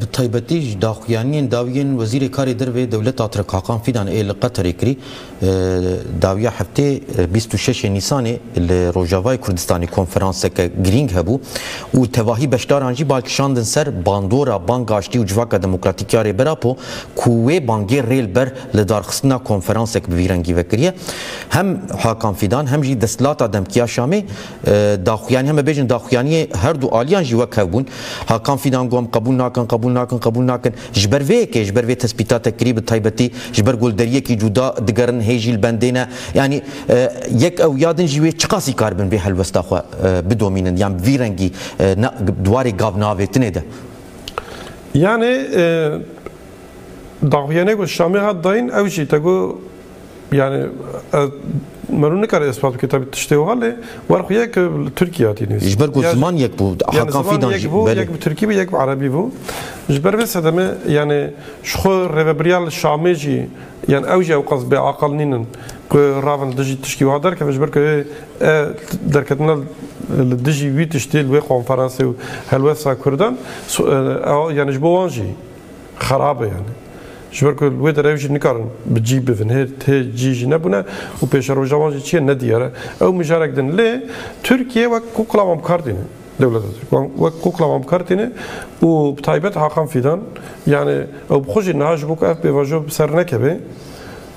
Bi taybetî ji daxuyaniyên dawî yên Wezîrê Karê Derve Dewleta Tirk Hakan Fîdan ê li Qeterê kirî dawiya heftê bîst û şeş Nîsanê li Rojavayê Kurdistanê konferanseke girîng hebû û tevahî beşdaran jî bal kişandin ser bandora Banga Aştî û Civaka Demokratîk ya Rêber Apo ku wê bangê rê li ber lidarxistina konferansek bi vî rengî vekiriye. Hem Hakan Fîdan hem jî desthilata Demk ya Şamê daxuyanî heme bêjin daxuyaniyê her du aliyan jî wek hev bûn. Hakan Fîdan got em qebûl nakin, qebûl nakin, qebûl nakin. Ji ber vê yekê, ji ber vê tespîta te kirî bi taybetî ji ber golderiyekî cûda digerin hê jî li bendê ne. Yanî yek ew ya din jî wê çiqasî kar bin vê helwesta xwe bidomînin yan bi vî rengî ne di warê gavnavêtinê de. Yanî daxuyaniyê ku Şamê hat dayîn ew jî te got, Yani ez mero nikare ispat bike tabi tiştê wiha lê wer xwe yek li Tirkiye hatî nivîsîn. Ji ber ku ziman yek bû. Yani Hakan ziman Fidan yek jî bû, belê. yek bi Tirkî bû, yek bi Erebî bû. Ji ber vê sedemê yani ji xwe rêvebiriya li Şamê jî yani ew jî ewqas bêaqil nînin ku ravin li dijî tiştî wiha derkevin ji ber ku ê e derketina li dijî wî tiştê li wê konferansê û helwesta Kurdan so- e, ew yani ji bo wan jî xerab e yani. Ji ber ku li wê derê ew jî nikarin bi cî bivin. Hê hê cî jî nebûne û pêşeroja wan jî çi ye ne diyar e. Ew mijarek din. Lê Tirkiye wek kukla wan bi kar tîne. Dewleta Tirk wan wek kukla wan bi kar tîne û bi taybet Hakan Fîdan yani ew bi xwe jî niha ji bo ku ev pêvajo bi ser nekeve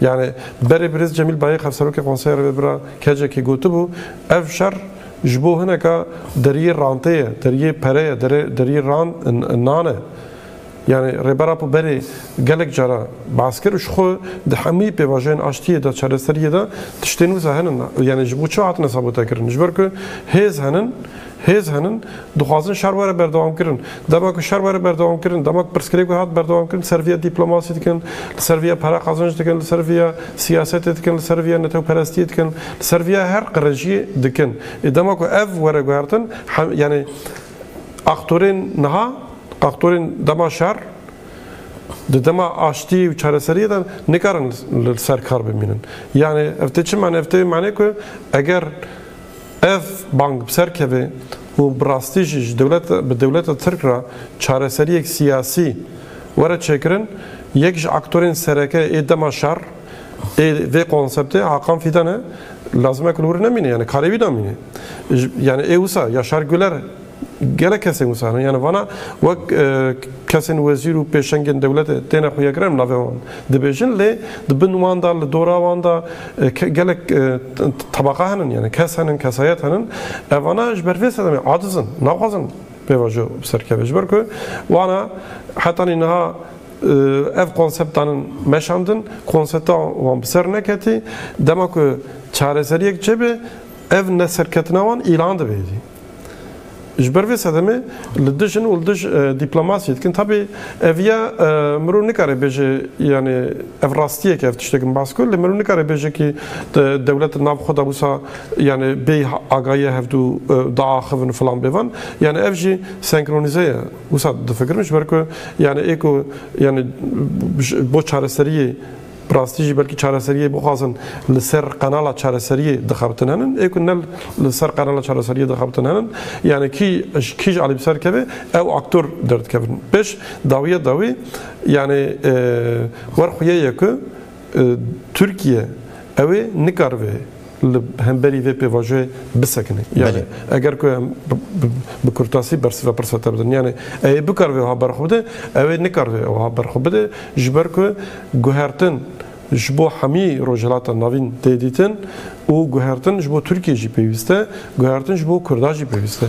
Yanî berê birêz Cemîl Bayix Hevserokê Konseya Rêvebira KCK'ê gotibû, Ev şer ji bo hineka deriyê rantê ye, deriyê pere ye, deriyê nan e. Yanî Rêber Apo berê gelek cara behs kir û ji xwe di hemû pêvajoyên aştiyê de, çareseriyê de tiştên wisa henin. Yanî ji bo çi hatine sabotekirin? Ji ber ku hêz henin. Hêz henin, dixwazin şer were berdewamkirin. Dema ku şer were berdewamkirin, dema ku pirsgirêk wê hat berdewamkirin, ser vîya dîplomasî dikin, li ser vîya pere qazanc dikin, li ser vîya siyasetê dikin, li ser vîya netewperestiyê dikin, li ser vîya her qirejiyê dikin. Ê dema ku ev were guhertin, yanî aktorên niha, aktorên dema şer, di dema aştiyê û çareseriyê de nikarin li ser kar bimînin. Yanî ev tê çi mane? Ev tê wê manê ku eger, Ev bang bi ser keve û bi rastî jî ji dewlet bi dewleta Tirk re çareseriyek siyasî were çêkirin. Yek ji aktorên sereke ê dema şer ê vê konseptê Hakan Fîdan e. Lazim e ku li wir nemîne, yanî karê wî namîne. Yanî ê wisa Yaşar Güler Gelek kesên wisa ne yani vana wek kesên wezîr û pêşengên dewletê têne xuyekirin navê wan dibêjin lê di bin wan da li dora wan da gelek tebaqa henin yani kes henin kesayet henin evana ji ber vê sedemê aciz in naxwazin pêvajo bi ser keve ji ber ku wana hetanî niha ev konseptanin meşandin konsepta wan bi ser neketî dema ku çareseriyek çêbê ev neserketina wan îlan dibêjî Ji ber vê sedemê li dij in û li dij dîplomasiyê dikin. Tabî ev ya mirov nikare bêje yanê ev rastiyek e ev tiştê min bas kir lê mirov nikare bêje kî dewlet di nav xwe de wisa yanê bê agayiya hevdû diaxivin û filan bê van. Yanê ev jî senkronîze ye. Wisa difikirim ji ber ku yanê ê ku yanê bo çareseriyê Bi rastî jî belkî çareseriyê bixwazin li ser qenala çareseriyê dixebitin henin. Ê ku ne li ser qenala çareseriyê dixebitin henin, yanê kî ji kî jî alî bi ser keve ew aktor derdikevin. Pêş dawiya dawî yanê wer xuyê ye ku Tirkiye ew ê nikaribe, li hemberî vê pêvajoyê bisekine. Yani eger ku em bi kurtasî bersiva pirsa te bidin. Yani ewê bikar vê wiha berxwe bide, ewê nikar vê wiha berxwe bide ji ber ku guhertin ji bo hemî Rojhilata Navîn tê dîtin û guhertin ji bo Tirkiyê jî pêwîst e, guhertin ji bo Kurdan jî pêwîst e.